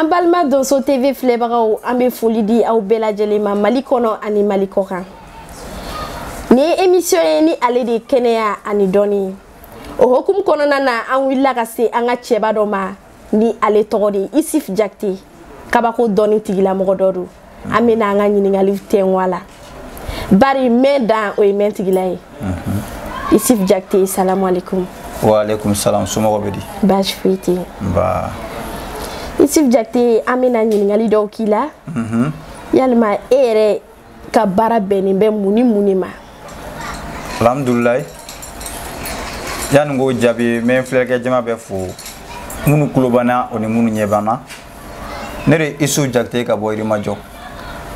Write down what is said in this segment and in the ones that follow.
an balima donso tv filɛbagaw an bɛ foli di aw bɛɛ lajɛlen ma mali kɔnɔ ani mali kɔkan nin ye emisiyɔn ye ni ale de ye kɛnɛya ani dɔnni o hokumu kɔnɔna na an wulila ka se an ka cɛba dɔ ma ni ale tɔgɔ de ye isif jakite kabako dɔnni tigilamɔgɔ dɔ don an bɛna an ka ɲininkali tɛnku a la bari mɛn dan o ye mɛn tigi la ye isif jakite salamu aleykum waaleykum salam somɔgɔw bɛ di baasi foyi tɛ yen nba isif jakite an bɛna ɲininkali dɔw k'i la mhm. yalima e yɛrɛ ka baara bɛnnen bɛ mun ni mun de ma alhamdulilayi yanni k'o jaabi n bɛ n filɛlikɛ jama bɛɛ fo minnu kulo b'an na o ni minnu ɲɛ b'an na ne de isif jakite ka bɔ yirimajɔ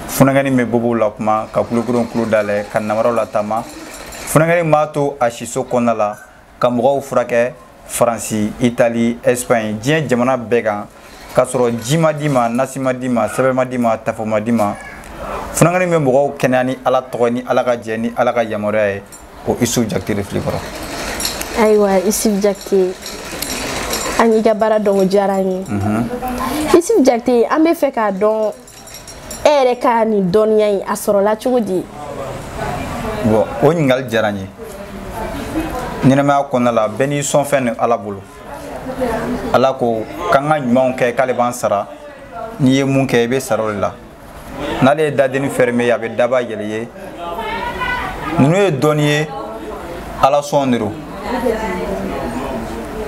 funakɛni bɛ bobow lakuma ka kulokuron kulo dayɛlɛ ka nabaraw lataama funakɛni b'a to a siso kɔnɔna la ka mɔgɔw furakɛ faransi itali ɛsipaɲi diɲɛ jamana bɛɛ kan k'a sɔrɔ ji ma d'i ma nasi ma d'i ma sɛbɛn ma d'i ma tafo ma d'i ma funakɛni bɛ mɔgɔw kɛnɛya ni ala tɔgɔ ni ala ka jɛ ni ala ka yamaruya ye o isif jakite de fil'i kɔrɔ ayiwa isif jakite an y'i ka baara dɔn o diyara an ye isif jakite an bɛ fɛ k'a dɔn e yɛrɛ ka nin dɔnniya in a sɔrɔla cogo di bɔn o ɲininkali diyara n ye ɲɛnamaya kɔnɔna la bɛɛ n'i sɔnfɛn ni ala bolo ala ko k'an ka ɲumanw kɛ k'ale b'an sara n'i ye mun kɛ i bɛ sara o de la n'ale ye dadenni fɛrɛme i ye a bɛ daba yɛlɛ i ye ninnu ye dɔnni ye ala sɔn de don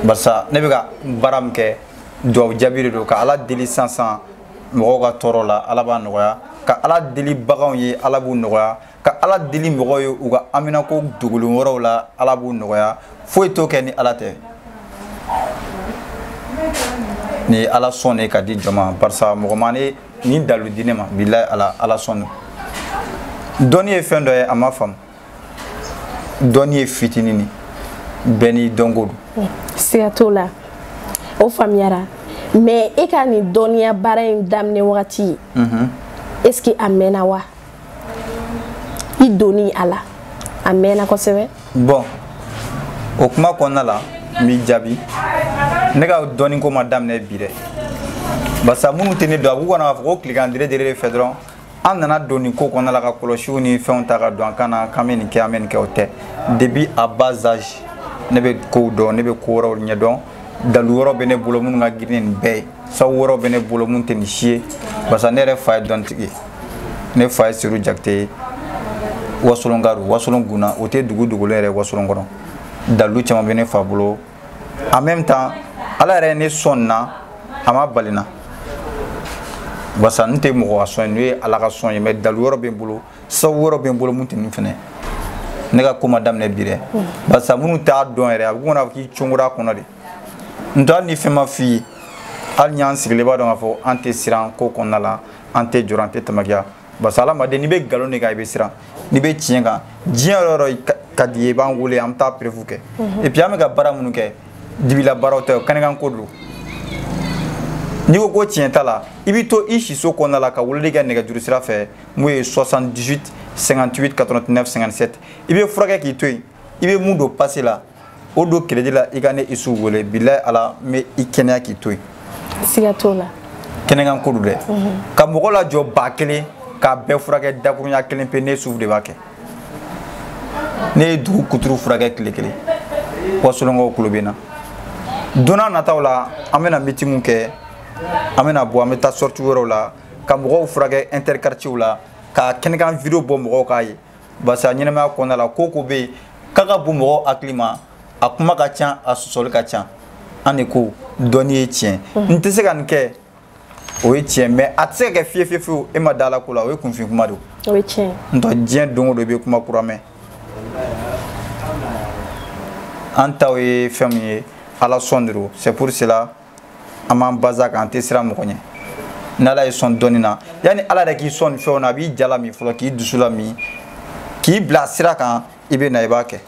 barisa ne bɛ ka baara min kɛ duwawu jaabi de don ka ala deli sisan mɔgɔw ka tɔɔrɔ la ala b'a nɔgɔya ka ala deli baganw ye ala b'u nɔgɔya ka ala deli mɔgɔw ye u ka haminako dogolen wɛrɛw la ala b'u nɔgɔya foyi t'o kɛ ni ala tɛ nin ye ala sɔn ne ka di jama barisa mɔgɔ ma ne nin dalu di ne ma bilayi ala ala sɔn don dɔnni ye fɛn dɔ ye a ma faamu dɔnni ye fitini ni bɛɛ n'i dɔnko don siga t'o la o faamuyara mɛ e ka nin dɔnniya baara in daminɛ wagati est ce que a mɛnna wa i donni a la a mɛnna kosɛbɛ bɔn o kuma kɔnɔna la n b'i jaabi ne ka dɔnni ko ma daminɛ bi dɛ barisa minnu tɛ ne dɔn a b'u kɔnɔ k'a fɔ ko tilegan dere dere de fɛ dɔrɔn an nana don nin ko kɔnɔna la ka kɔlɔsiw ni fɛnw ta ka don an kan na k'an bɛ nin kɛ an bɛ nin kɛ o tɛ depuis à bas âge ne bɛ kow dɔn ne bɛ ko wɛrɛw ɲɛdɔn dalu wɛrɛw bɛ ne bolo minnu ka girin nin bɛɛ ye sabu wɛrɛ bɛ ne bolo mun tɛ nin si ye barisa ne yɛrɛ fa ye dɔntigi ye ne fa ye seru jakite ye wasolon garu wasolon guna o tɛ dugu dogolen yɛrɛ wasolon kɔnɔ dalilu caman bɛ ne fa bolo en même temps ala yɛrɛ ye ne sɔn nin na a ma bali n na barisa n tɛ mɔgɔ ka sɔn ye n'o ye ala ka sɔn ye mais dalilu wɛrɛ bɛ n bolo sabu wɛrɛ bɛ n bolo mun tɛ nin fɛnɛ ne ka ko ma daminɛ bi dɛ barisa minnu t'a dɔn yɛrɛ a bɛ komi n'a fɔ k'i congora a kɔnɔ de n t'a ni fɛn ma f'i ye hali n'an sigilen b'a dɔn k'a fɔ an tɛ siran ko kɔnɔna la an tɛ jɔrɔ an tɛ tamakiya parce que hadamaden n'i bɛ nkalon de kan i bɛ siran n'i bɛ tiɲɛ kan diɲɛ yɔrɔ o yɔrɔ ka d'i ye i b'an wele an bɛ taa preuve kɛ et puis an bɛ ka baara minnu kɛ dibila baaraw tɛ o kɛnɛkan ko don n'i ko ko tiɲɛ t'a la i bɛ to i siso kɔnɔna la ka weleli kɛ nɛgɛjuru sira fɛ mun ye 78 58 89 57 i bɛ furakɛ k'i to yen i bɛ mun don pase la o don kiredi la i ka ne isuf wele bilayi ala n bɛ i kɛnɛya k'i to yen siga t'o la kɛnɛkan ko don dɛ mhm. ka mɔgɔ lajɔ ba kelen k'a bɛɛ furakɛ dakurunya kelen pe ne isuf de b'a kɛ ne ye dugu kuturu furakɛ tile kelen wasolonkaw kulo bɛ n na don na nataw la an bɛna meeting kɛ an bɛna bɔ an bɛ taa sortie wɛrɛw la ka mɔgɔw furakɛ interquartiers la ka kɛnɛkan video bɔ mɔgɔw k'a ye parce que a ɲɛnamaya kɔnɔna la ko o ko bɛ yen k'a ka bon mɔgɔw hakili ma a kuma ka ca a sɔsɔli ka ca an de ko dɔnni ye tiɲɛ n tɛ se ka nin kɛ o ye tiɲɛ mais a tɛ se ka kɛ fiye fiye fiyewu e ma da ala ko la o ye kunfin kuma don o ye tiɲɛ n'o tɛ diɲɛ don o don i bɛ kuma kura mɛn an taw ye fɛn min ye ala sɔn de don c'est pour cela an b'an base kan an tɛ siran mɔgɔ ɲɛ n'ala y'i sɔn dɔnni na yanni ala yɛrɛ k'i sɔn nin fɛnw na a b'i ja lamin fɔlɔ k'i dusu lamin k'i bila sira kan i bɛ na i b'a kɛ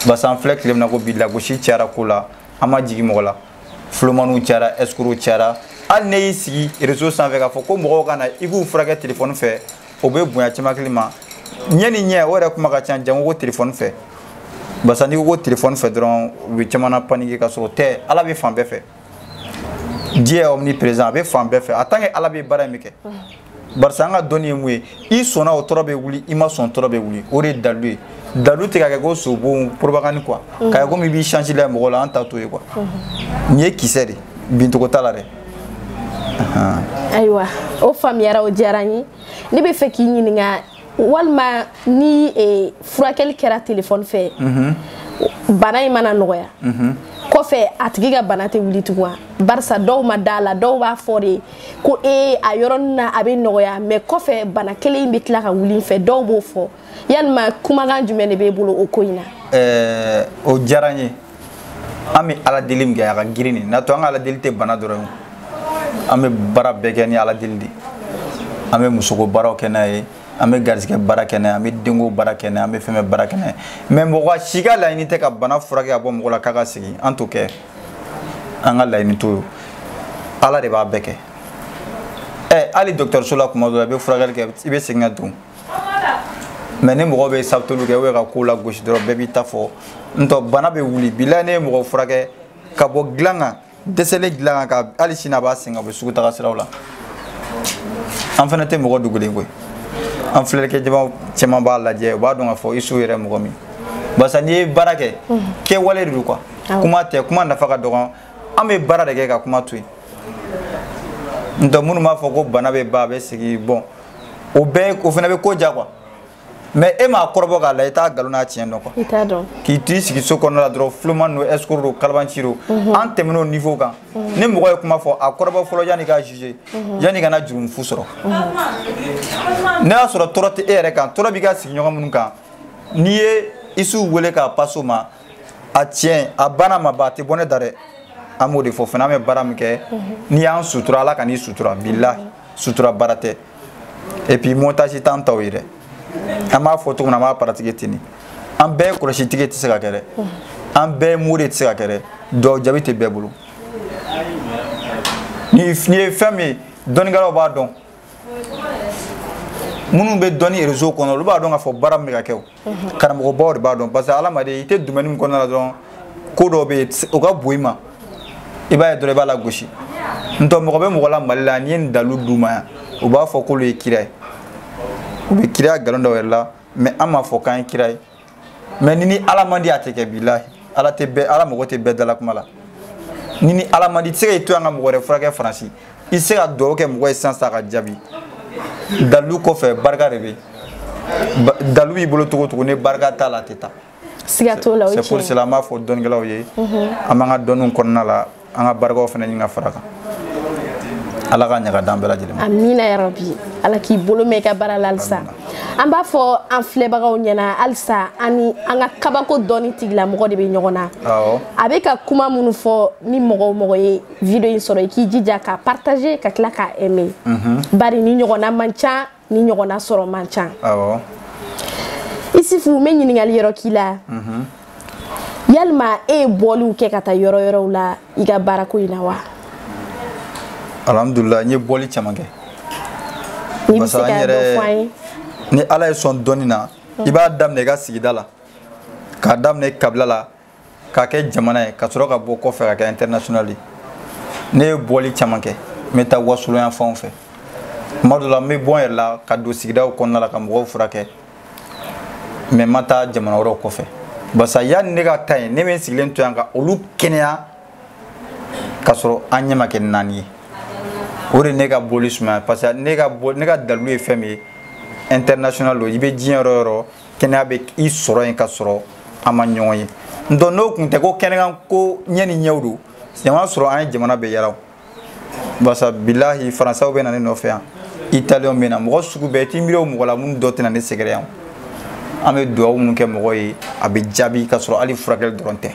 basa an filɛ tile min na ko bi lagosi cayara ko la an ma jigin mɔgɔ la fulomaniw cayara escroc cayara hali ne y'i sigi réseau sanfɛ k'a fɔ ko mɔgɔw ka na i k'u furakɛ telefɔni fɛ o bɛ bonya caman hakili ma ɲɛ ni ɲɛ o yɛrɛ kuma ka ca jango ko telefɔni fɛ barisa n'i ko ko telefɔni fɛ dɔrɔn u bɛ caman na paniquer ka sɔrɔ o tɛ ala bɛ fan bɛɛ fɛ dieu est omniprésent a bɛ fan bɛɛ fɛ en tant que ala bɛ baara in bɛɛ kɛ barisa an ka dɔnni ye mun ye i sɔnna o tɔɔrɔ bɛ wuli i ma sɔn tɔɔrɔ bɛ wuli o de ye dalilu ye dalu tɛ ka kɛ ko sobon propagande quoi k'a kɛ komi i b'i change la mɔgɔ la an ta t'o ye quoi nin ye kisɛ de bincogo t'a la dɛ ayiwa o faamuyara o diyara n ye ne bɛ fɛ k'i ɲininka walima ni e, furakɛli kɛra telefɔni fɛ mhm. bana in mana nɔgɔya mhm. kɔfɛ a tigi ka bana tɛ wuli tugun wa barisa dɔw ma d'a la dɔw b'a fɔ de ko ee a yɔrɔnin na a bɛ nɔgɔya mais kɔfɛ bana kelen in bɛ tila ka wuli fɛ dɔw b'o fɔ yalima kumakan jumɛn de b'e bolo o ko in na eh, o diyara n ye an bɛ ala deli min kɛ a ka girin de n'a to an ka ala deli tɛ bana dɔrɔn an bɛ baara bɛɛ kɛ ni ala deli de an bɛ musoko baaraw kɛ n'a ye an bɛ garisɛgɛ baara kɛ n'a ye an bɛ denko baara kɛ n'a ye an bɛ fɛn bɛɛ baara kɛ n'a ye mais mɔgɔ si ka laɲini tɛ ka bana furakɛ ka bɔ mɔgɔ la k'a ka segin an t'o kɛ an ka laɲini t'o ye ala de b'a bɛɛ kɛ ɛ hali dɔgɔtɔrɔso la tuma dɔ la i bɛ furakɛli kɛ i bɛ segin ka don mais ni mɔgɔ bɛ sabuteli kɛ ou ka kow lagosi dɔrɔn bɛɛ b'i ta fɔ ntɔ bana bɛ wuli bilahi ne ye mɔgɔ furakɛ ka bɔ dilan kan dɛsɛlen dilan kan ka hali sini a b'a sen ka bɔ sugu taga siraw la an fana tɛ mɔgɔ dogolen koyi an filɛlikɛ jama caman b'a lajɛ u b'a dɔn k'a fɔ isu yɛrɛ mɔgɔ min barisa n'i ye baara kɛ kɛwale de don quoi kuma tɛ kuma nafa ka dɔgɔn an bɛ baara de kɛ ka kuma to yen ntɔ minnu b'a fɔ ko bana bɛ ban a bɛ segin bon o bɛɛ o fana bɛ ko ja quoi mais e m'a kɔrɔbɔ k'a la i t'a nkalon n'a tiɲɛ dɔn quoi k'i t'i sigi so kɔnɔna la dɔrɔn fuloma don escroc don kalabanci don mhm. an tɛmɛn'o niveau kan mhm. ni mɔgɔ ye kuma fɔ a kɔrɔbɔ fɔlɔ yanni k'a juger mhm. yanni ka na jurumu fu sɔrɔ n'a y'a sɔrɔ tɔɔrɔ tɛ e yɛrɛ kan tɔɔrɔ b'i ka sigiɲɔgɔn minnu kan n'i ye isu wele k'a passe o ma a tiɲɛ a bana ma ban a tɛ bɔ ne da dɛ an b'o de fɔ fana an bɛ baara min kɛ n'i y'an sutura ala kan'i sutura bilahi sutura baara tɛ et puis montage t'an taw ye dɛ an b'a fɔ cogo min na an b'a pratiquer ten de an bɛɛ kɔlɔsitigi tɛ se ka kɛ dɛ an bɛɛ mori tɛ se ka kɛ dɛ dugawu jaabi tɛ bɛɛ bolo nin ye fɛn min ye dɔnnikɛlaw b'a dɔn minnu bɛ dɔnni réseau kɔnɔ olu b'a dɔn k'a fɔ baara min bɛ ka kɛ o karamɔgɔbaw de b'a dɔn parce que hadamaden i tɛ domaine min kɔnɔna la dɔrɔn ko dɔ bɛ yen o ka bon i ma i b'a ye dɔrɔn i b'a lagosi ntɔ mɔgɔ bɛ mɔgɔ la mali la n'i ye nin dalilu d'u ma yan u b'a fɔ k'olu ye kira ye u bɛ kira nkalon d'u yɛrɛ la mais an m'a fɔ k'an ye kira ye mais n'i ni ala man di a tɛ kɛ bilahi ala tɛ bɛɛ ala mago tɛ bɛɛ dala kuma la n'i ni ala man di i tɛ se ka i to yan ka mɔgɔ wɛrɛ furakɛ faransi i tɛ se ka dugawu kɛ mɔgɔ ye sisan sa ka jaabi dalilu kɔfɛ barika de bɛ dalilu b'i bolo cogo o cogo ni barika t'a la a tɛ taa siga t'o la o ye tiɲɛ ye c'est pour cela an b'a fɔ dɔnnikɛlaw ye an b'an ka dɔnniw kɔnɔna la an ka barikaw fana ɲini ka fara kan ala ka ɲaga d'an bɛɛ lajɛlen ma amina yarabi ala k'i bolo mɛn i ka baara la halisa an b'a fɔ an filɛbagaw ɲɛna halisa an ni an ka kabako dɔnni tigilamɔgɔ de bɛ ɲɔgɔn na a bɛ ka kuma minnu fɔ ni mɔgɔ o mɔgɔ ye video in sɔrɔ i k'i jija k'a partager ka tila k'a aimer mhm. bari nin ɲɔgɔnna man ca nin ɲɔgɔnna sɔrɔ man ca isufu n bɛ ɲininkali yɔrɔ k'i la mhm. yalima e ye bɔliw kɛ ka taa yɔrɔ yɔrɔw la i ka baarako in na wa alhamdulila n ye bɔli caman kɛ n'i bɛ se ka dɔ fɔ an ye ni ala ye sɔn dɔnni na i b'a daminɛ i ka sigida la k'a daminɛ kabila la k'a kɛ jamana ye ka sɔrɔ ka bɔ kɔfɛ ka kɛ international ye ne ye bɔli caman kɛ n bɛ taa wasolon yan fanw fɛ tuma dɔ la n bɛ bɔ n yɛrɛ la ka don sigidaw kɔnɔna la ka mɔgɔw furakɛ mais n ma taa jamana wɛrɛw kɔfɛ barisa yanni ne ka taa yen ne bɛ n sigilen to yan ka olu kɛnɛya ka sɔrɔ an ɲɛ ma kɛ naani ye o de ne ka bɔli sumaya parce que ne ka dalilu ye fɛn min ye international don i bɛ diɲɛ yɔrɔ o yɔrɔ kɛnɛya bɛ i sɔrɔ yen ka sɔrɔ an ma ɲɔgɔn ye ntɔ n'o tun tɛ ko kɛnɛ kan ko ɲɛ ni ɲɛw don a b'a sɔrɔ an ye jamana bɛɛ yaala barisa bilahi faransaw bɛ na ne nɔfɛ yan italiyɛnw bɛ na mɔgɔ sugu bɛɛ i t'i miiri o mɔgɔ la minnu dɔ tɛ na ne sɛgɛrɛ yan an bɛ dugawu minnu kɛ mɔgɔ ye a bɛ jaabi ka sɔrɔ hali furakɛli dɔrɔn tɛ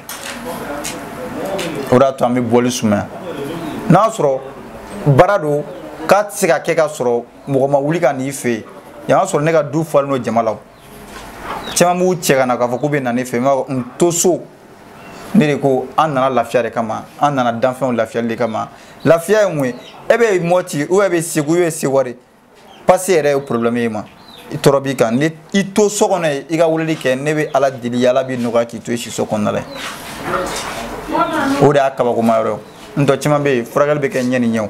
o de y'a to an bɛ bɔli sumaya n'a sɔrɔ baara don k'a tɛ se ka kɛ ka sɔrɔ mɔgɔ ma wuli ka n'i fɛ yen yan y'a sɔrɔ ne ka du falen don jama la caman b'u cɛ ka na k'a fɔ k'u bɛ na ne fɛ n to so ne de ko an nana lafiya de kama an nana danfɛnw lafiyali de kama lafiya ye mun ye e bɛ mɔti ou bien e bɛ segu e bɛ seware pase yɛrɛ ye problème ye mais tɔɔrɔ b'i kan ni i to so kɔnɔ yen i ka weleli kɛ ne bɛ ala deli ala b'i nɔgɔya k'i to i siso kɔnɔna la o de y'a kabakoma yɔrɔ ye n tɔ caman bɛ yen furakɛli bɛ kɛ ɲɛ ni ɲɛw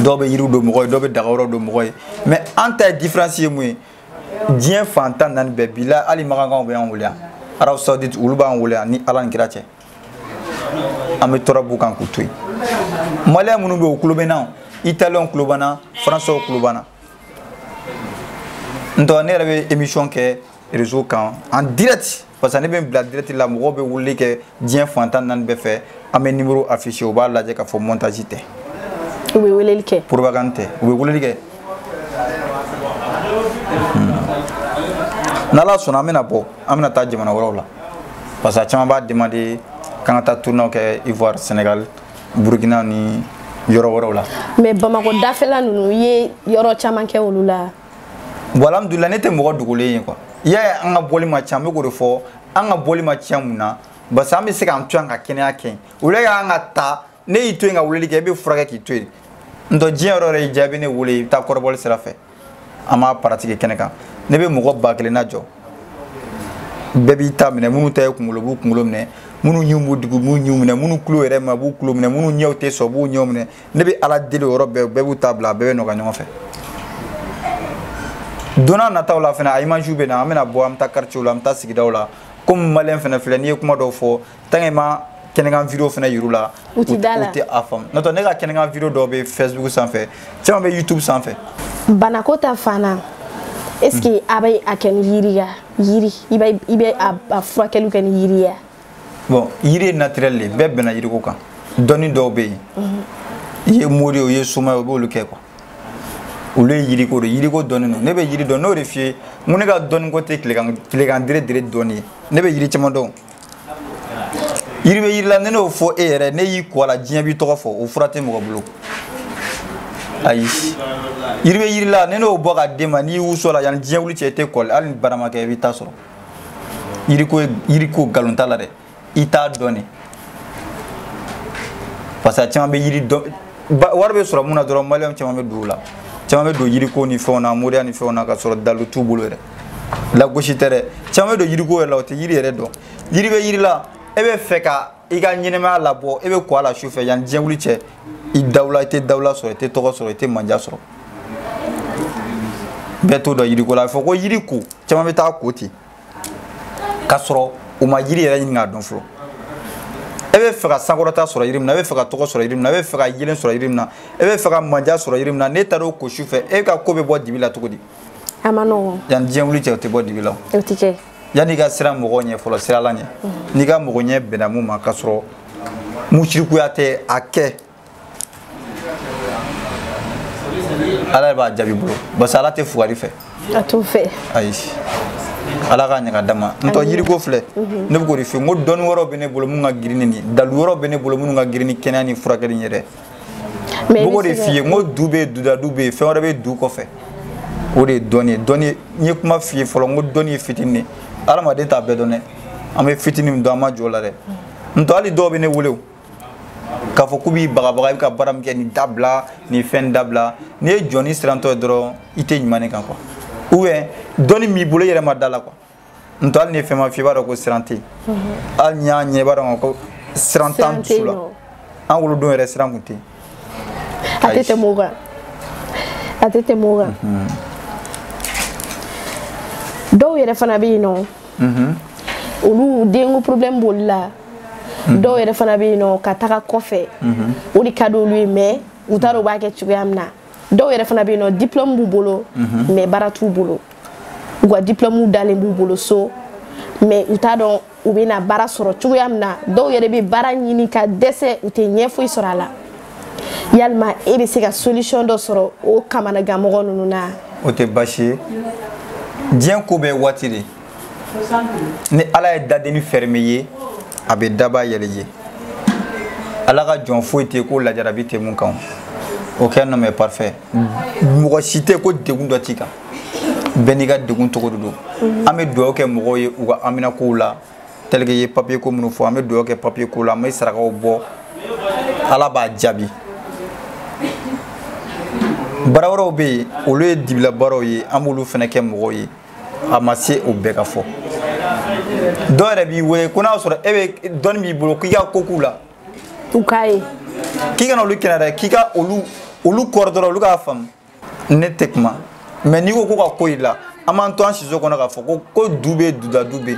dɔw bɛ yiriw don mɔgɔ ye dɔw bɛ daga yɔrɔ don mɔgɔ ye mais an ta ye diferansi ye mun ye diɲɛ fan tan naani bɛɛ bi la hali makankaw bɛ an wele yan arabie saoudite olu b'an wele yan ni ala ni kira cɛ an bɛ tɔɔrɔ b'u kan k'u to yen maliyɛn minnu bɛ yen u tulo b'an na italiyɛnw tulo b'an na faransɛw tulo b'an na n tɔ ne yɛrɛ bɛ emisiyɔn kɛ réseau kan en direct parce que ne bɛ bila direct la mɔgɔw bɛ weleli kɛ diɲɛ fan tan naani bɛɛ fɛ an bɛ numéro afficher u b'a lajɛ k'a fɔ montage tɛ u bɛ weleli kɛ propagande tɛ u bɛ weleli kɛ hmm. n'ala sɔnna an bɛna bɔ an bɛna taa jamana wɛrɛw la parce que a caman b'a demander k'an ka taa tournée kɛ ivoire sénégal burkina ni yɔrɔ wɛrɛw la mais bamakɔ dafɛla ninnu i ye yɔrɔ caman kɛ olu la voilà alhamdulila ne tɛ mɔgɔ dogolen ye quoi i y'a ye an ka bɔli ma ca n bɛ k'o de fɔ an ka bɔli ma ca mun na parce que an bɛ se k'an to yan ka kɛnɛya kɛ yen o de y'an ka ta ne y'i to yen ka weleli kɛ e bɛ furakɛ k'i to yen n'o tɛ diɲɛ yɔrɔ yɛrɛ y'i jaabi ne wele i bɛ taa kɔrɔbɔli sira fɛ an b'a pratiquer kɛnɛ kan ne bɛ mɔgɔ ba kelen najɔ bɛɛ b'i ta minɛ minnu ta ye kunkolo b'u kunkolo minɛ minnu ɲinw b'u degun b'u ɲinw minɛ minnu tulo yɛrɛ ma b'u tulo minɛ minnu ɲɛw tɛ sɔn b'u ɲɛw minɛ ne bɛ ala deli o yɔrɔ bɛɛ bɛɛ b'u ta bila a bɛɛ bɛ nɔgɔya ɲɔgɔn fɛ don nataw la fana a imagew bɛ na an bɛna bɔ an bɛ taa quartier la an bɛ taa sigidaw la comme maliyɛn fana filɛ n'i ye kuma dɔw fɔ tant qu'i ma kɛnɛkan video fana yir'u la u tɛ a faamu n'o tɛ ne ka kɛnɛkan video dɔw bɛ facebook sanfɛ caman bɛ youtube sanfɛ banako ta fana est ce que a bɛ a kɛ ni yiri ya yiri i bɛ a furakɛliw kɛ ni yiri ya bon yiri ye naturel de bɛɛ bɛnna yiriko kan dɔnni dɔw bɛ yen i ye mori ye o i ye soma ye o b'olu kɛ quoi olu ye yiriko de yiriko dɔnni don ne bɛ yiri dɔn n'o de f'i ye n ko ne ka dɔnni ko tɛ tilekan tilekan dere dere dɔnni ye ne bɛ yiri caman dɔn yiri bɛ yiri la ne n'o fɔ e yɛrɛ n'e y'i ko a la diɲɛ b'i tɔgɔ fɔ o fura tɛ mɔgɔ bolo ayi yiri bɛ yiri la ne n'o bɔ ka d'e ma n'i wusu a la yanni diɲɛ wuli cɛ i tɛ kɔli hali ni baara ma kɛ i b'i ta sɔrɔ yiriko yiriko nkalon t'a la dɛ i t'a dɔn de parce que a caman bɛ yiri dɔn wari bɛ sɔrɔ min na dɔrɔn maliyɛnw caman bɛ don o la caman bɛ don yiriko ni fɛnw na moriya ni fɛnw na ka sɔrɔ dalu t'u bolo yɛrɛ lagosi tɛ dɛ caman bɛ don yiriko yɛrɛ la u tɛ yiri yɛrɛ dɔn yiri bɛ yiri la e bɛ fɛ ka i ka ɲɛnamaya labɔ e bɛ ko a la su fɛ yanni diɲɛ wuli cɛ i dawula i tɛ dawula sɔrɔ i tɛ tɔgɔ sɔrɔ i tɛ manja sɔrɔ bɛɛ t'o dɔn yiriko la a bɛ fɔ ko yiriko caman bɛ taa ko ten k'a sɔrɔ u ma yiri yɛrɛ ɲini k'a dɔn fɔlɔ e bɛ fɛ ka sankɔrɔta sɔrɔ yiri min na e bɛ fɛ ka tɔgɔ sɔrɔ yiri min na e bɛ fɛ ka yelen sɔrɔ yiri min na e bɛ fɛ ka manja sɔrɔ yiri min na n'e taara o ko su fɛ e ka ko bɛ bɔ dibi la cogo di a man nɔgɔn yanni diɲɛ wuli cɛ o tɛ bɔ dibi la o tɛ kɛ yanni i ka siran mɔgɔ ɲɛ fɔlɔ siran ala ɲɛ n'i ka mɔgɔ ɲɛ bɛnna min ma k'a sɔrɔ musirikuya tɛ a kɛ ala de b'a jaabi bolo parce que ala tɛ fugari fɛ a t'o fɛ ayi ala k'a ɲa k'a d'an ma n'o tɛ yiriko filɛ mhm. ne bɛ k'o de f'i ye n ko dɔnni wɛrɛw bɛ ne bolo minnu ka girin ni dalu wɛrɛw bɛ ne bolo minnu ka girin ni kɛnɛya ni furakɛli ye dɛ n b'o de f'i ye n ko du bɛ yen dudadu bɛ yen fɛn wɛrɛ bɛ du kɔfɛ o de ye dɔnni ye dɔnni n ye kuma f'i ye fɔlɔ n ko dɔnni ye fitinin de hadamaden t'a bɛɛ dɔn dɛ an bɛ fitinin min dɔn an ma jɔ o la dɛ n'o tɛ hali dɔw bɛ ne wele o k'a fɔ k'u b'i bagabaga i bɛ ka baara min kɛ nin dabila nin fɛn dabila n'i ye jɔni sirantɔ ye dɔrɔn i tɛ ɲuman de kan quoi ou bien dɔnni min b'i bolo i yɛrɛ ma d'a la quoi n tɔ hali ni fɛn ma f'i b'a dɔn ko siran tɛ yen hali n'i y'a ɲɛ i b'a dɔn ko siran t'an dusu la an wolodon yɛrɛ siran tun tɛ yen a tɛ tɛmɛ o kan a tɛ tɛmɛ o kan dɔw yɛrɛ fana bɛ yen nɔ olu denko problème b'olu la dɔw yɛrɛ fana bɛ yen nɔ ka taga kɔfɛ o de ka di olu ye mais u t'a dɔn u b'a kɛ cogoya min na dɔw yɛrɛ fana bɛ yen nɔ diplɔmu b'u bolo mhm. mais baara t'u bolo u ka diplɔmuw dalen b'u bolo so mais u t'a dɔn u bɛna baara sɔrɔ cogoya min na dɔw yɛrɛ bɛ baara ɲini ka dɛsɛ u tɛ ɲɛ foyi sɔrɔ a la yalima e bɛ se ka solution dɔ sɔrɔ o kamanagan mɔgɔ ninnu na o tɛ baasi ye diɲɛ ko bɛɛ waati de ni ala ye dadenni fɛrɛme ye a bɛ daba yɛlɛ ye ala ka jɔn foyi tɛ ko lajarabi tɛ mun kan aucun homme est parfait mɔgɔ si tɛ ko degun dɔ t'i kan bɛɛ n'i ka degun cogo de don an bɛ dugawu kɛ mɔgɔw ye u ka haminakow la tɛlike ye papiye ko minnu fɔ an bɛ dugawu kɛ papiye ko la an bɛ sarakaw bɔ ala b'a jaabi baara wɛrɛw bɛ yen olu ye dibila baaraw ye an b'olu fana kɛ mɔgɔw ye a ma se o bɛɛ ka fɔ dɔw yɛrɛ b'i wele ko n'a sɔrɔ e bɛ dɔnni b'i bolo k'i ka ko k'u la u k'a ye k'i kana olu kɛnɛ dɛ k'i ka olu kɔrɔ dɔrɔn olu k'a faamu ne tɛ kuma mais n'i ko ko ka ko i la an b'an to an siso kɔnɔ k'a fɔ ko ko du bɛ duda du bɛ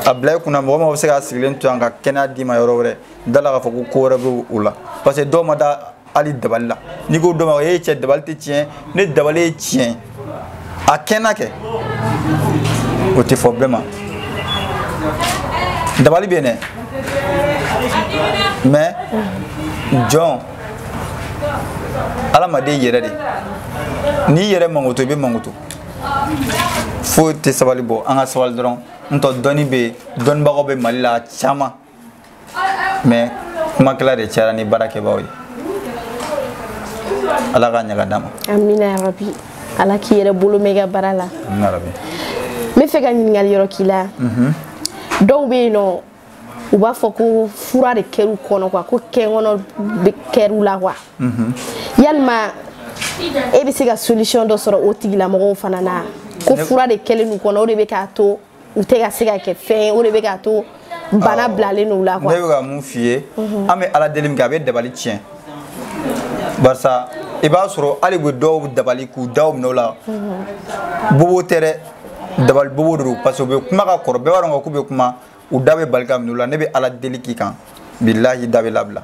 a bila i kunna mɔgɔ min bɛ se k'a sigilen to yan ka kɛnɛya d'i ma yɔrɔ wɛrɛ da la k'a fɔ ko ko wɛrɛ bɛ o la parce que dɔw ma da hali dabali la n'i ko dɔ ma e cɛ dabali tɛ tiɲɛ ne dabali ye tiɲɛ a kɛnɛ kɛ o tɛ fɔ bɛɛ ma dabali bɛ yen dɛ mais jɔn adamaden yɛrɛ de n'i yɛrɛ makoto i bɛ makoto foyi tɛ sabali bɔ an ka sabali dɔrɔn n tɔ dɔnni bɛ yen dɔnnibagaw bɛ mali la caman mais kumakɛla de cayara ni baarakɛbaaw ye ala ka ɲaga d'an ma amina yarabi ala k'i yɛrɛ bolo mɛn i ka baara la amina yarabi n bɛ fɛ ka ɲininkali yɔrɔ k'i la mhm. dɔw bɛ yen nɔ u b'a fɔ ko fura de kɛr'u kɔnɔ quoi ko kɛnkɔnɔ de kɛr'u la quoi mhm. yalima e bɛ se ka solution dɔ sɔrɔ o tigilamɔgɔw fana na ko fura de kɛlen n'u kɔnɔ o de bɛ k'a to u tɛ ka se ka kɛ fɛn ye o de bɛ k'a to bana bilalen n'u la quoi ne bɛ ka mun f'i ye mhm. an bɛ ala deli min kɛ a bɛ dabali tiɲɛ barisa i b'a sɔrɔ hali u bɛ dɔw dabali k'u daw minɛ o la mhm. bobo tɛ dɛ dabali bobo de don parce que u bɛ kuma ka kɔrɔ bɛɛ b'a dɔn k'u bɛ kuma u da bɛ bali ka minɛ o la ne bɛ ala deli k'i kan bilahi da bɛ labila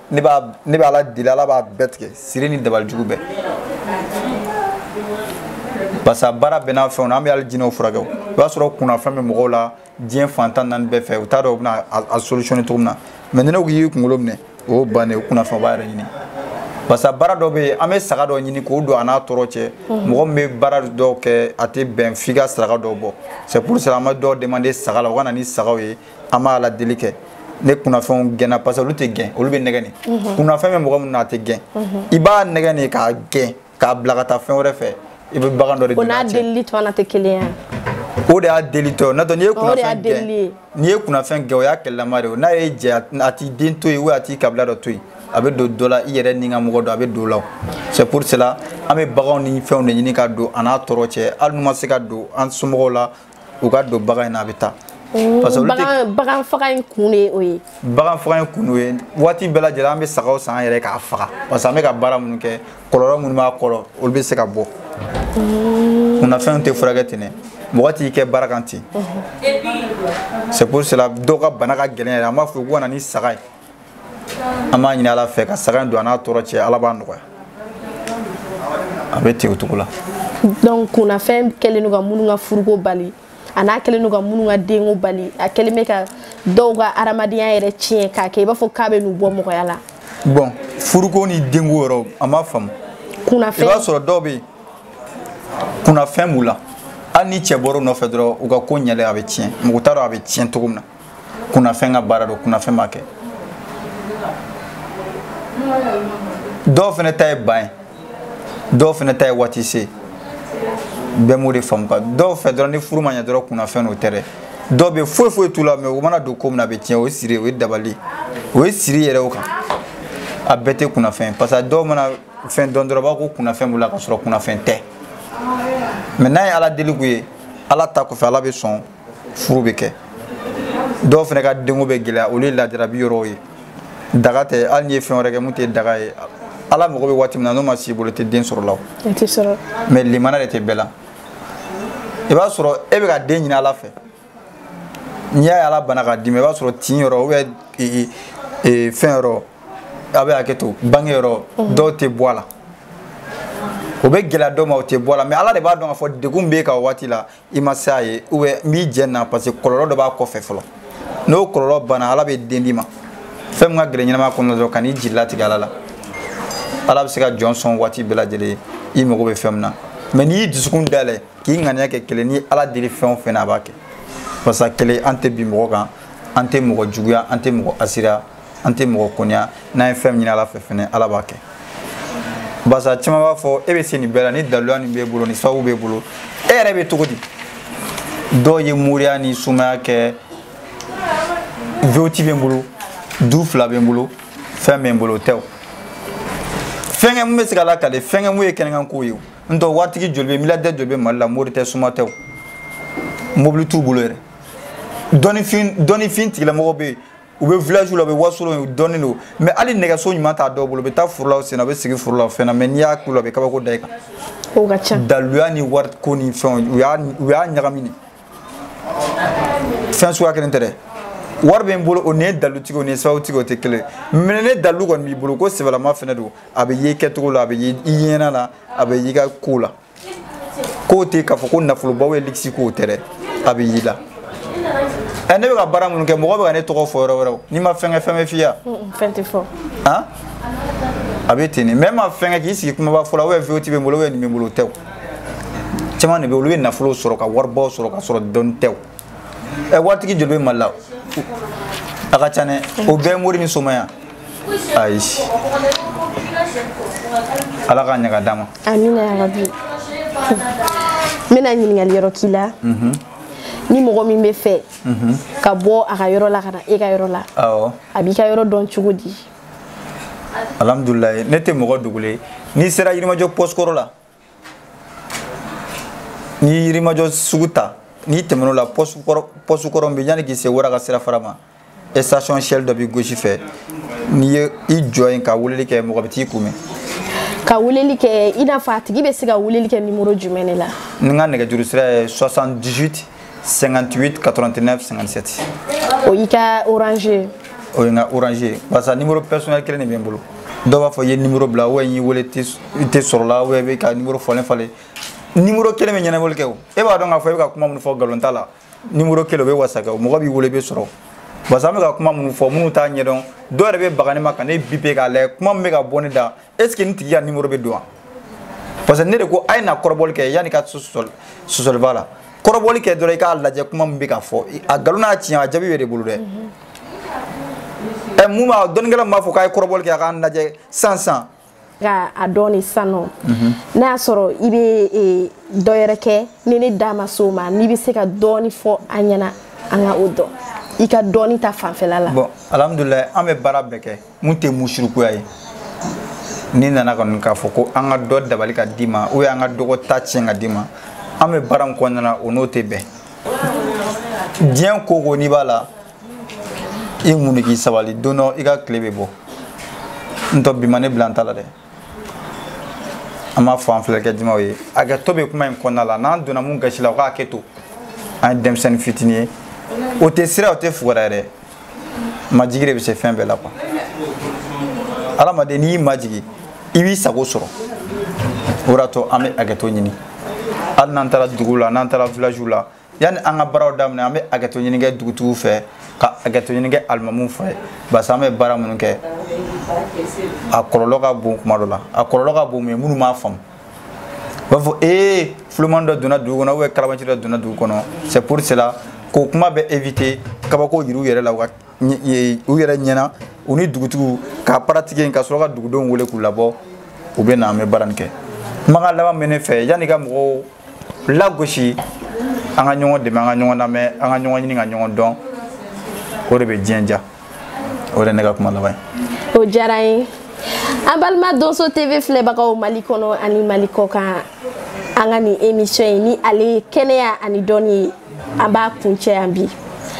ne b'a ne bɛ ala deli ala b'a bɛɛ tigɛ siri ni dabalijugu bɛɛ parce que baara bɛɛ n'a fɛnw na an bɛ hali jinɛw furakɛ o i b'a sɔrɔ kunnafɛn bɛ mɔgɔw la diɲɛ fan tan naani bɛɛ fɛ u t'a dɔn u bɛna a solutionner cogo min na mais ni ne ko k'i y'i kunkolo minɛ o y'o bannen o kunnafɛn o b'a yɛrɛ ɲini parce que baara dɔ bɛ yen an bɛ saga dɔ ɲini k'o don a n'a tɔɔrɔ cɛ mɔgɔ min bɛ baara dɔw kɛ a tɛ bɛn f'i ka saraka dɔw bɔ c'est pour cela an bɛ dɔw demander saga la u ka na ni sagaw ye an b'ala deli kɛ ni kunnafɛnw gɛnna parce que olu tɛ gɛn olu bɛ nɛgɛn de mhm. kunnafɛn bɛ mɔgɔ min na a tɛ gɛn mhm. i b'a nɛgɛn de k'a gɛn k'a bila ka taa fɛn wɛrɛ fɛ i bɛ bagan dɔ de deli a cɛ o n'a delili tɔ na tɛ kelen ye o de y'a deli tɔ n'o tɛ n'i ye kunnafɛn gɛn n'i ye kunnafɛn gɛn o y'a kɛlɛlama de ye n'a y'i jɛ a t'i den to yen ou a t'i kabila dɔ to yen a bɛ don dɔ la i yɛrɛ n'i ka mɔgɔ dɔ a bɛ don o la c'est pour cela an bɛ baganw ni fɛnw de ɲini ka don a n'a tɔɔrɔ cɛ hali n'u ma se ka don an somɔgɔw la u ka don bagan in na a bɛ taa parce que bagan bagan faga in kun de ye o ye bagan faga in kun de ye waati bɛɛ lajɛlen an bɛ sagaw san an yɛrɛ k'a faga parce que an bɛ ka baara minnu kɛ kɔlɔlɔ minnu b'a kɔrɔ olu bɛ se ka bɔ kunnafɛnw tɛ furakɛ ten dɛ mɔgɔ t'i kɛ baara kan ten c'est pour cela dɔw ka bana ka gɛlɛn yɛrɛ an b'a fɔ u ka na ni saga ye an b'a ɲini ala fɛ ka saga don a n'a tɔɔrɔ cɛ ala b'a nɔgɔya a bɛ ten o cogo la donc kunnafɛn kɛlen don ka minnu ka furuko bali a n'a kɛlen don ka minnu ka denko bali a kɛlen bɛ ka dɔw ka adamadenya yɛrɛ tiɲɛ k'a kɛ i b'a fɔ k'a bɛn'u bɔ mɔgɔya la bon furuko ni denko yɔrɔ an b'a faamu kunnafɛn i b'a sɔrɔ dɔw bɛ yen kunnafɛn b'u la hali ni cɛ bɔra u nɔfɛ dɔrɔn u ka ko ɲɛlen a bɛ tiɲɛ mɔgɔ t'a dɔn a bɛ tiɲɛ cogo min na kunnafɛn ka baara don kunnafɛn b'a kɛ dɔw fana ta ye ban ye dɔw fana ta ye waati se bɛɛ m'o de faamu quoi dɔw fɛ dɔrɔn ni furu ma ɲɛ dɔrɔn kunnafɛn nɔ tɛ dɛ dɔw bɛ foyi foyi t'u la mais u mana don ko min na a bɛ tiɲɛ o ye siri ye o ye dabali o ye siri yɛrɛ o kan a bɛɛ tɛ kunnafɛn parce que dɔw mana fɛn dɔn dɔrɔn u b'a ko kunnafɛn b'u la ka sɔrɔ kunnafɛn tɛ mais n'a ye ala deli k'u ye ala ta kɔfɛ ala bɛ sɔn furu bɛ kɛ dɔw fana ka denko bɛ gɛlɛya olu ye lajarabi yɔrɔw ye daga tɛ hali n'i ye fɛn wɛrɛ kɛ min tɛ daga ye ala mago bɛ waati min na n'o ma s'i bolo tɛ den sɔrɔ la o mais limana de tɛ bɛɛ la i b'a sɔrɔ e bɛ ka den ɲini ala fɛ n'i y'a ye ala banna k'a d'i ma i b'a sɔrɔ tin yɔrɔ ou bien e, e, e, fɛn yɔrɔ a bɛ hakɛ to bange yɔrɔ mhm. dɔw tɛ bɔ a la o bɛ gɛlɛya dɔw ma o tɛ bɔ a la mais ala de b'a dɔn k'a fɔ degun b'e kan o waati la i ma se a ye ou bien n b'i jɛ na parce que kɔlɔlɔ dɔ b'a kɔfɛ fɔlɔ n'o kɔlɔlɔ banna ala bɛ den d'i ma fɛn min ka gɛlɛn ɲɛnama kɔnɔ dɔrɔn kan'i jigi latigɛ ala la ala bɛ se ka jɔn sɔn waati bɛɛ lajɛlen i mago bɛ fɛn min na mais n'i y'i dusukun dayɛlɛ k'i ŋaniya kɛ kelen n'i y'ala deli fɛn o fɛn na a b'a kɛ parce que kelen an tɛ bin mɔgɔ kan an tɛ mɔgɔ juguya an tɛ mɔgɔ hasidiya an tɛ mɔgɔ kɔniya n'an ye fɛn min ɲini ala fɛ fɛnɛ ala b'a kɛ barisa caman b'a fɔ e bɛ se nin bɛɛ la ni daluya nin b'e bolo ni sababu b'e bolo e yɛrɛ bɛ cogo di dɔw ye moriya ni somaya kɛ V8 bɛ n bolo du fila bɛ n bolo fɛn bɛ n bolo o tɛ o fɛnkɛ mun bɛ se ka lakale fɛnkɛ mun ye kɛnɛkan kow ye o nɔntɛ waritigi joli bɛ miliyardɛri joli bɛ mali la mori tɛ soma tɛ o mobili t'u bolo yɛrɛ dɔnnifin dɔnnifin tigilamɔgɔ bɛ yen u bɛ village la u bɛ wasolo u dɔnnen don mais hali nɛgɛso ɲuman t'a dɔw bolo u bɛ taa foro la u senna u bɛ sigi foro la o fɛn na mais n'i y'a k'u la u bɛ kabako da i kan o ka ca daluya ni wari ko ni fɛnw u y'a u y'a ɲagami de fɛn suguya kelen tɛ dɛ wari bɛ n bolo o ni ye dalutigi o ni ye sababutigi o tɛ kelen mais ni dalu kɔni b'i bolo ko sɛbɛlama fɛnɛ don a bɛ ye i kɛcogo la a bɛ ye i ɲɛna la a bɛ y'i ka ko la k'o tɛ k'a fɔ ko nafolobaw ye luxe ko tɛ dɛ a bɛ y'i la ɛ ne bɛ ka baara minnu kɛ mɔgɔ bɛ ka ne tɔgɔ fɔ yɔrɔ wɛrɛw n'i ma fɛn kɛ fɛn bɛ f'i ya fɛn tɛ fɔ han a bɛ ten de mais ma fɛn kɛ k'i sigi kumaba fɔ la ou bien V8 bɛ n bolo ou bien nin bɛ n bolo o tɛ o caman de bɛ olu bɛ nafolo sɔrɔ ka waribaw sɔrɔ ka sɔrɔ dɔnni tɛ o ɛ waritigi joli bɛ mali la a ka ca dɛ o bɛɛ ye mori ni soma ye ayi ala k'a ɲaga d'a ma amina yarabi n bɛna ɲininkali yɔrɔ k'i la mhm. ni mɔgɔ min b'a fɛ mhm. ka bɔ a ka yɔrɔ la ka na e ka yɔrɔ la a b'i ka yɔrɔ dɔn cogo di alhamdulilayi ne tɛ mɔgɔ dogolen n'i sera yirimajɔ poste kɔrɔ la n'i ye yirimajɔ sugu ta n'i tɛmɛn'o la poste kɔrɔ min bɛ yanni k'i se wara ka sira fara ma station shell dɔ b'i gauche fɛ n'i ye i jɔ yen ka weleli kɛ mɔgɔ bɛ t'i kunbɛn ka weleli kɛ i n'a fɔ a tigi bɛ se ka weleli kɛ nimoro jumɛn de la ne ka nɛgɛjuru sira ye 78 58 89 57 o y'i ka orange o ye n ka orange barisa numéro personnel kelen de bɛ n bolo dɔw b'a fɔ i ye numéro bila ou n y'i wele i tɛ sɔrɔla ou i bɛ ka numéro falen falen numéro kelen bɛ ɲɛnabɔli kɛ o e b'a dɔn k'a fɔ i bɛ ka kuma minnu fɔ nkalon t'a la numéro kelen o bɛ wasa kɛ o mɔgɔ b'i wele i bɛ sɔrɔ barisa an bɛ ka kuma minnu fɔ minnu t'a ɲɛdɔn dɔw yɛrɛ bɛ baga ne ma ka ne bipe k'a lajɛ kuma min bɛ ka bɔ ne da est ce que nin tigi ka nimoro bɛ don wa parce que ne de ko a ye na kɔrɔbɔli kɛ yanni ka sɔsɔliba la kɔrɔbɔli kɛ dɔrɔn i k'a lajɛ kuma min bɛ ka fɔ a nkalon n'a tiɲɛ a jaabi b'e de bolo dɛ ɛ mun b'a dɔnnikɛla min b'a fɔ k'a ye kɔrɔbɔli kɛ an k'a lajɛ sisan sisan ka a dɔn ni sisan nɔ n'a y'a sɔrɔ i bɛ e, dɔ yɛrɛ kɛ ni ne da ma s'o ma n'i bɛ se ka dɔɔni fɔ an ɲɛna an ka o dɔn i ka dɔnni ta fanfɛla la. bon alhamdulilayi an bɛ baara bɛɛ kɛ. min tɛ musirikuya ye n'i nana kɔni k'a fɔ ko an ka dɔ dabali ka d'i ma ou bien an ka dɔgɔ ta tiɲɛ ka d'i ma an bɛ baara min kɔnɔna na o n'o tɛ bɛn diɲɛ ko o ko n'i b'a la i muɲu k'i sabali don dɔ i ka tile bɛ bɔ n'o tɛ bi ma ne bila n ta la dɛ an b'a fɔ an filɛlikɛ jamaw ye hakɛto bɛ kuma in kɔnɔna la n'an donna min gasi la o ka hakɛ to an ye denmisɛnnin fitinin ye o tɛ siran o tɛ fugariya yɛrɛ majigi de bɛ se fɛn bɛɛ la quoi hadamaden n'i y'i majigi i b'i sago sɔrɔ o de y'a to an bɛ hakɛto ɲini hali n'an taara dugu la n'an taara villagew la yanni an ka baaraw daminɛ an bɛ hakɛto ɲini kɛ dugutigiw fɛ ka hakɛto ɲini kɛ alimamuw fɛ parce que an bɛ baara minnu kɛ a kɔlɔlɔ ka bon kuma dɔ la a kɔlɔlɔ ka bon mais minnu m'a faamu u b'a fɔ ee fulumani dɔ donna dugu kɔnɔ kalabanci dɔ donna dugu kɔnɔ c'est pour cela k'o kuma bɛɛ éviter kabako yira u yɛrɛ la u ka u yɛrɛ ɲɛna u ni dugutigiw k'a pratiquer ka sɔrɔ ka dugudenw wele k'u labɔ u bɛ na an bɛ baara nin kɛ kumakan laban bɛ ne fɛ yanni ka mɔgɔw lagosi an ka ɲɔgɔn dɛmɛ an ka ɲɔgɔn lamɛn an ka ɲɔgɔn ɲini ka ɲɔgɔn dɔn o de bɛ diɲɛ diya o de ye ne ka kuma laban ye o diyara n ye an balima donso tv filɛbagaw mali kɔnɔ ani mali kɔ kan an ka nin émission ye ni ale ye kɛnɛya ani dɔnni ye an b'a kuncɛ yan bi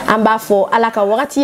an b'a fɔ ala ka wagati